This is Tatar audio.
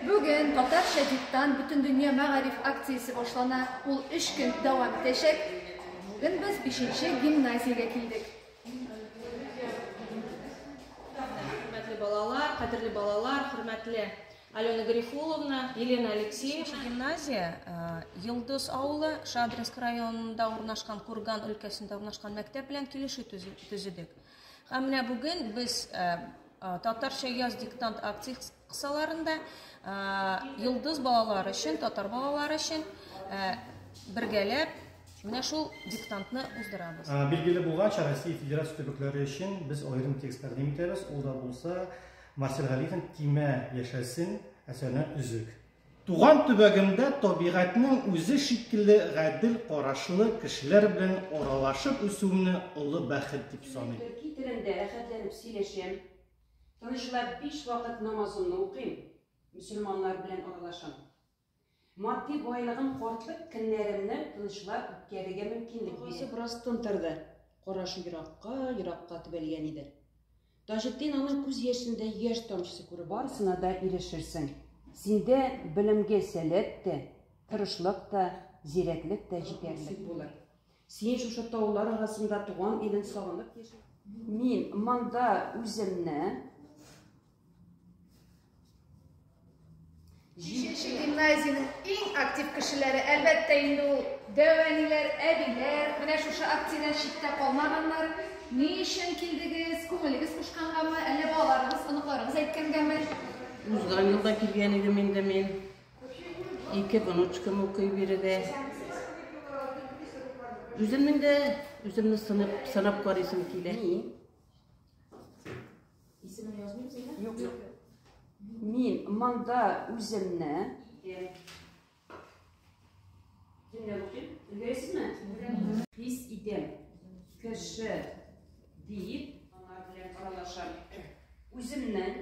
Бүген татарча диктант бөтендөнья мәгариф акциясе башлана. Ул өч көн дәвам итәчәк. Бүген без бишенче гимназиягә килдек. Хөрмәтле балалар, кадерле балалар, хөрмәтле Алена Гарифуловна, Елена Алексеевна. Гимназия Йылдыз авылы Шадринск районында урнашкан Курган өлкәсендә урнашкан мәктәп белән килешү төзедек. Һәм менә бүген без татарча яз диктант Кысаларында Йолдыз балалар өчен, татар балалар өчен бергәләп менә шул диктантны уздырабыз. Билгеле булганча, Россия Федерация төбәкләре өчен без аерым текст тәкъдим итәбез. Ул да булса Марсель Галиевнең Тимә яшәсен әсәренә өзек. Туган төбәгемдә табигатьнең үзе шикелле гадел карашлы кешеләр белән аралашып үсүемне олы бәхет дип саныйм. Китерәм дә рәхәтләнеп сөйләшәм. Тынычлап биш вакыт намазымны укыйм, мөселманнар белән аралашам. Матди байлыгым картлык көннәремне тынычлап үткәрергә мөмкинлек бирә. Апасы бераз тын торды. Карашы еракка, еракка төбәлгән иде. Таҗетдин аның күз яшендә яшь тамчысы күреп алды. Барысына да ирешерсең. Синдә белемгә сәләт тә, тырышлык та, зирәклек тә җитәрлек булыр. Син шушы таулар арасында туган илен сагынып яши. Мин монда үземне Җиденче гимназиянең иң актив кешеләре, әлбәттә, инде ул дәвәниләр, әбиләр, менә шушы акциядән читтә калмаганнар. Ни өчен килдегез? Күңелегез кушкангамы, әллә балаларыгыз, оныкларыгыз әйткәнгәме? Узган елда килгән идем инде мин. Ике внучкам укый биредә. Үземнең дә үземне сынап, сынап карыйсым килә. Исемен язмыйм сиңа? Юк, юк. Мин монда үземне Хис идем. Кеше дип, ана белән аралашам. Үземнең